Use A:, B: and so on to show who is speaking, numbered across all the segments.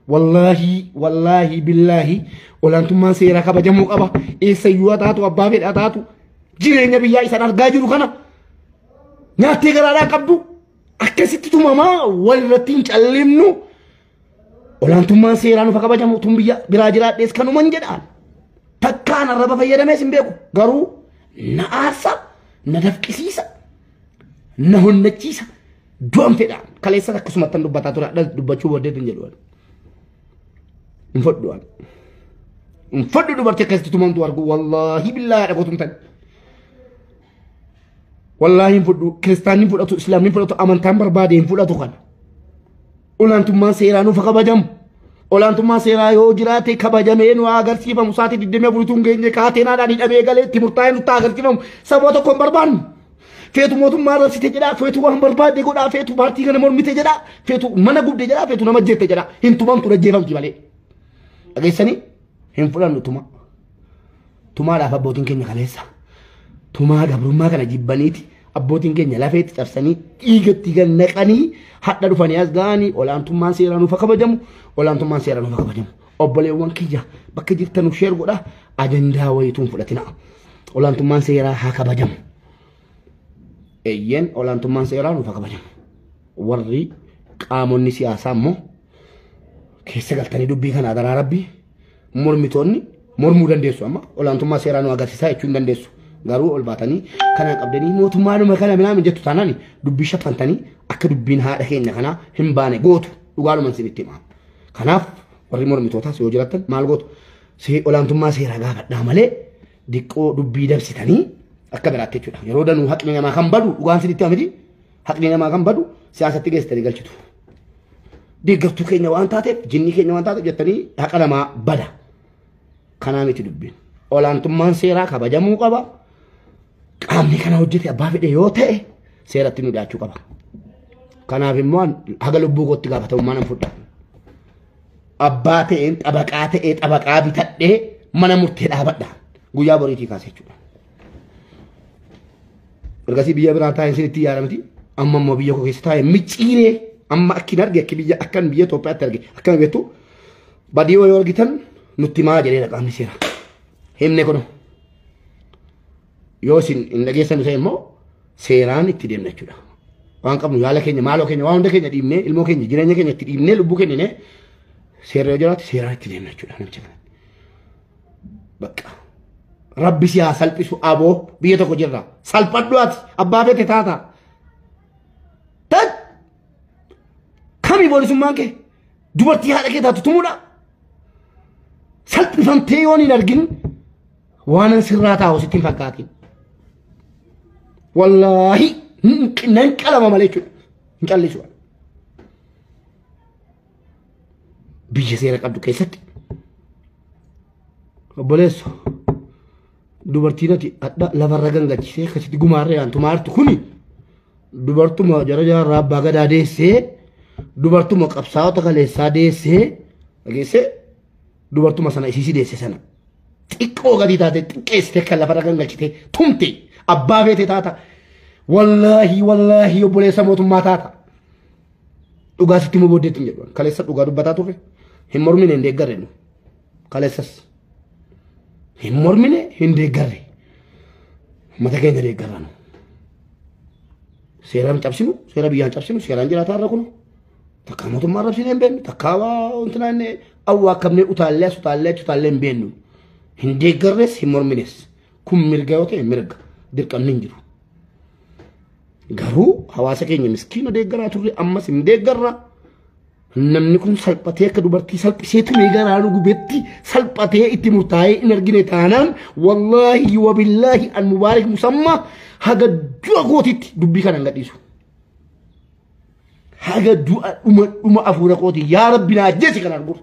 A: Wallaahii wallaahii billaahii olaantummaan seeraa kabajamuu qaba. Eessayyuu haa taatu abbaa fedhaa taatu jireenya biyyaa isaan argaa jiru kana nyaattee garaadhaa qabdu akkasitti tumamaa walirratti hin callimnu. Olaantummaan seeraa nuuf haa kabajamu tun biyya biraa jiraadhees kanuman jedhaan. Takkaan arraba fayyadamees hin beeku garuu na aarsa na dafqisiisa na honnachiisa Du'an fedha. Kaleessas akkasumattan dubbataa ture adhas dubbachuu booddeetu hin jedhu. Hin fodhu waan. Hin fodhu dubartii akkasitti tumamtu argu wallaahi billaa yaada koo tumtan. Wallaahi hin fudhu kiristaanni hin fudhatu islaamni hin fudhatu amantaan barbaade hin fudhatu kana. Olaantummaan seeraa nuuf kabajamu. Olaantummaa seeraa yoo jiraate kabajamee nu agarsiifamu. Sa'aatii 24 tun geenye kaateenaadhaan hidhamee galee itti murtaa'ee nutti agarsiifamu. Sababa tokko hin barbaannu. Feetu mootummaa rabsite jedhaa, feetu waan barbaade godhaa, feetu paartii kana mormite jedhaa, feetu mana gubde jedhaa, feetu nama jette jedhaa. Hin tumamtu dhajjeefamti malee. Dhageessanii hin fudhannu tuma. Tumaadhaaf abbootiin keenya kaleessa. Tumaa gabrummaa kana jibbaniiti abbootiin keenya lafeetti cabsanii dhiigatti gad naqanii hadha dhufanii as ga'anii olaantummaan seeraa nuuf haa kabajamu olaantummaan seeraa nuuf haa kabajamu. Obboleewwan kiyya bakka jirtan nuuf sheer godha ajandaa wayituun fudhatina. Olaantummaan seeraa haa kabajamu. Eeyyeen olaantummaan seeraa nuuf haa kabajamu. Warri qaamonni siyaasaa immoo keessa galtanii dubbii kana adaraa rabbii mormitoonni mormuu dandeessu amma olaantummaa seeraa nu agarsiisaa jechuu hin dandeessu. Garuu ol baatanii kana qabdanii mootummaanuma kana minaamin jettu taanaan dubbii shaffantanii akka dubbiin haadha keenya kanaa hin baane gootu dhugaadhuman sinitti himaa. Kanaaf warri mormitootaas yoo jiraattan maal gootu See- olaantummaa seeraa gaafadhaa malee diqqoo dubbii dabsitanii akka biraatti jechuudha. Yeroo danuu haqni namaa kan badu dhugaan sinitti himamiti Haqni namaa kan badu siyaasatti geessitanii galchitu. Deeggartuu keenya waan taateef jinnii keenya waan taateef jettanii haqa namaa bada. Kanaa miti dubbiin. Olaantummaan seeraa kabajamuu qaba. Qaamni kana hojjete abbaa fedhe yoo ta'e seeratti nu dhiyaachuu qaba. Kanaaf immoo an haga lubbuu kootti gaafatamummaa nan fudha. Abbaa ta'een xabaqaa ta'ee xabaqaa bitadhee mana murtee dhaabadha. Guyyaa boriitii kaasa jechuudha. Ergasii biyya biraa taa'ee isinitti yaada miti. Amma immoo biyya koo keessa taa'ee micciiree amma akkin arge akki biyya akkan biyya Itoophiyaatti arge akkana beektu badii yoo argitan nutti maa jedhee dhaqaamni seera. Himne kun yoo isin hin dhageessan ta'e immoo seeraan itti deemna jechuudha. Waan qabnu yaala keenya maaloo keenya waan hunda keenya dhiibnee ilmoo keenya jireenya keenya itti dhiibnee lubbuu kennine seera yoo jiraate seeraan itti deemna jechuudha namicha kana. Baqqaa. Rabbi si haa salphisu aboo biyya tokko jirra. Salphadhu ati abbaa beete taata. Tan kami boolisummaan kee dubartii haadha kee taatu tumudha. Salphifamtee yoon hin argin waanan sirraa taa'u sitti hin fakkaatin. Wallaahi nan qalama malee jechuudha. Hin callisu. biyya seera qabdu keessatti obboleessu dubartiin ati hadha lafarra gangachiisee akkasitti gumaarra yaantu maartu kuni dubartuma jara jaarraa abbaa gadaa deessee dubartuma qabsaa'ota kaleessaa deessee dhageessee dubartuma sana isiisii deesse sana xiqqoo gadii taate xiqqeessitee kan lafarra gangalchitee tumte abbaa feete taata wallaahi wallaahi obboleessa mootummaa taata. Dhugaa sitti immoo booddeetti hin jedhu. Kaleessa dhugaa dubbataa turre. Hin mormine hin deeggarre nu. Kaleessas. Hin mormine hin deeggarre. Mata keenya deeggarra nu. Seeraan cabsinu, seera biyyaan cabsinu, seeraan jiraataa irra kunu. Takkaa mootummaa arrabsinee hin beeknu, takkaa waa wantinaa inni awwaa akkamnee utaallee as utaallee achi utaallee hin beeknu. Hin deeggarres hin mormines. Kun mirga yoo ta'e mirga dirqamni hin jiru. Garuu hawaasa keenya miskiina deeggaraa turre ammas hin deeggarra. Namni kun salphatee akka dubartii salphisee tumee garaa nu gubetti salphatee itti murtaa'ee hin argine taanaan wallaahi wabillaahi an mubaarik musammaa haga du'a kootitti dubbii kana hin gadhiisu. Haga du'a dhuma dhuma afuura kooti yaa rabbi naa ajjeesi kanaan gurra.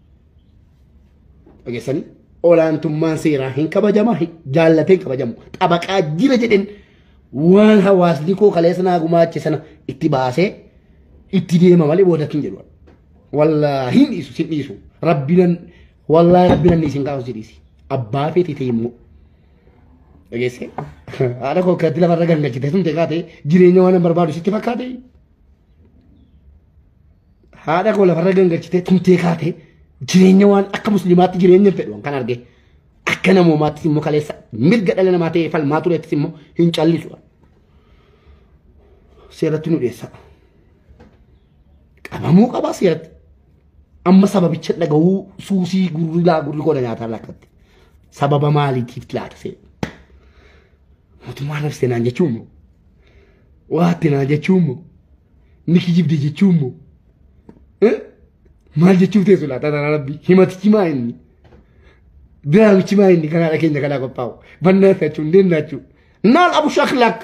A: Dhageessanii olaantummaan seeraa hin kabajama jaallatee hin kabajamu xabaqaa jira jedheen waan hawaasni koo kaleessa naa gumaache sana itti baasee itti deema malee boodatti hin jedhu. Wallaahi hin dhiisu sin dhiisu rabbinan wallaahi rabbinan isin kaa'u si dhiisi abbaa feeti ta'e immoo. Dhageessee haadha koo akkatti lafarra gangalchite sun ta'e kaatee jireenya waan hin barbaadu sitti fakkaatee. Haadha koo lafarra gangalchitee tumtee kaatee jireenya waan akka musliimaatti jireenya hin fedhu kan argee. akka namoomaattis immoo kaleessa mirga dhala namaa ta'ee falmaa tureettis immoo hin callisu. Seeratti nu dhiyeessa. Qabamuu qaba seeratti. Amma sababicha dhaga'uu suusii gurri laa gurri koo nyaataa lakkatti. Sababa maaliitiif laata seera? Mootummaa nafseenaan jechuun immoo Waa atti naa jechuun moo? Ni kijibde jechuun moo? Eh? Maal jechuuf teessu laata tana rabbi? Himatichi maa inni? Diraamichi maa inni kanaadha keenya kanaa qophaa'u? Bannaa isaachuu hin deennaachuu. Naal abu shaklaak.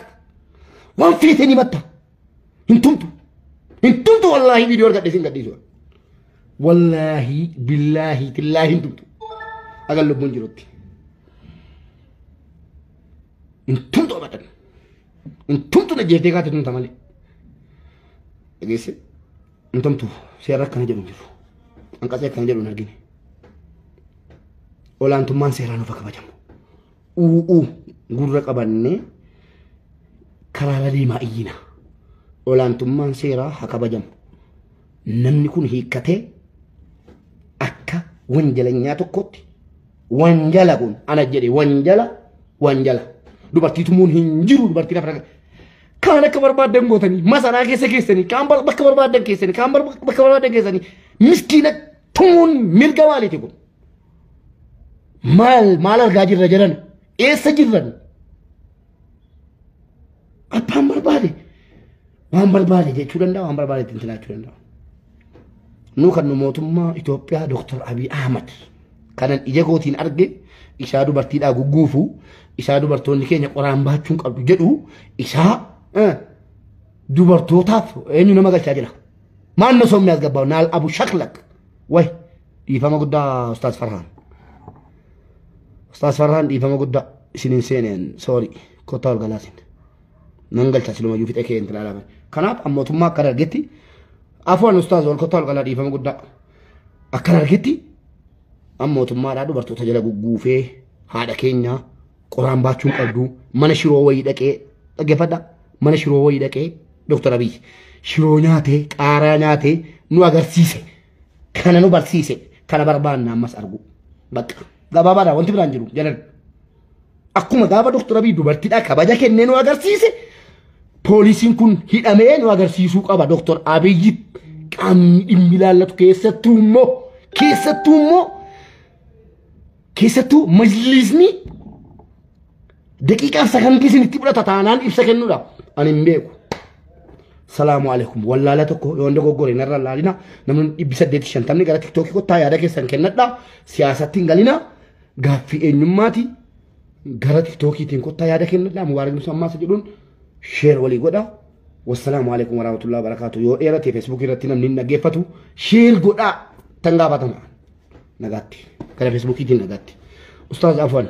A: Waan feeteen himatta. Hin tumtu. Hin tumtu wallaahi viidiyoo argadhe isin gadhiisu. Wallaahi billaahi tillaahi hin tumtu. Agan lubbuun jirutti. Hin tumtu abadan. Intumtu na jeeftee kaate tumta malee. Dhageesse. Intumtu seera akkana jedhu hin jiru. Anqasee akkana jedhu hin argine. Olaantummaan seeraa nuuf haa kabajamu. Uuu gurra qabannee karaara deemaa iyyina. Olaantummaan seeraa haa kabajamu. Namni kun hiikkatee akka wanjalanyaa tokkotti Wanjala kun ana jedhe wanjala wanjala. Dubartii tumuun hin jiru dubartii lafa irra. Kaan akka barbaadan gootanii masaraa keessa keessanii kaan bar- bakka barbaadan keessanii kaan bar- bakka barbaadan keessanii miskiina tumuun mirga maaliiti kun? Maal maal argaa jirra jedhan eessa jirran? Abbaan barbaade Waan barbaade jechuu danda'a, waan barbaade ittiin jiraachuu danda'a. Nuu kan nu mootummaa Itoophiyaa Dooktar Abiy Ahmad kanan ija kootiin arge isaa dubartiidhaa gugguufu isaa dubartoonni keenya qoraan baachuun qabdu jedhu isaa eh, dubartootaaf eenyu nama galchaa jira. Maal na soomni as gabbaa naal abu shaklak way dhiifama guddaa ustaas Farhaan. Ustaas Farhaan dhiifama guddaa isiniin seeneen soorii kottaa ol galaasin. Nan galcha siluma iyyuu fixee kee hin tilaalame. Kanaaf an mootummaa akkan argetti afuwaan ustaaz ol kottaa ol qalaa dhiifama guddaa. Akkan argetti an mootummaadhaa dubartoota jala gugguufee haadha keenyaa qoraan baachuun qabdu mana shiroo wayii dhaqee dhaggeeffadha mana shiroo wayii dhaqee Dr. Abiy shiroo nyaatee qaaraa nyaatee nu agarsiise. kana nu barsiise kana barbaanna ammas argu bakka gabaabaadha wanti biraan jiru jedhan akkuma gaafa doktor abii dubartidha kabaja kennee nu agarsiise poolisiin kun hidhamee nu agarsiisuu qaba doktor abiyyi qaamni dhimmi ilaallatu keessattuu immoo keessattuu immoo Keessattuu majliisni daqiiqaaf sakandii isin itti fudhata taanaan ibsa kennuudha. Ani hin beeku. Salaamu alaikum. Wallaala tokko yoo hunda goggore narra laalina. Namni dhibbi saddeeti shantamni gara tiktookii kottaa yaada keessan kennadha. Siyaasatti hin galina. Gaaffii eenyummaati. Gara tiktookiitiin kottaa yaada kennadha. Mubaarak Musa Ammaasa jedhuun sheer walii godha. Wassalaamu alaikum warahmatullahi wabarakatuh. Yoo dheerate feesbuukii irratti namni hin dhaggeeffatu sheer godhaa tan gaafatama. nagaatti gara feesbuukiitiin nagaatti ustaaz afwan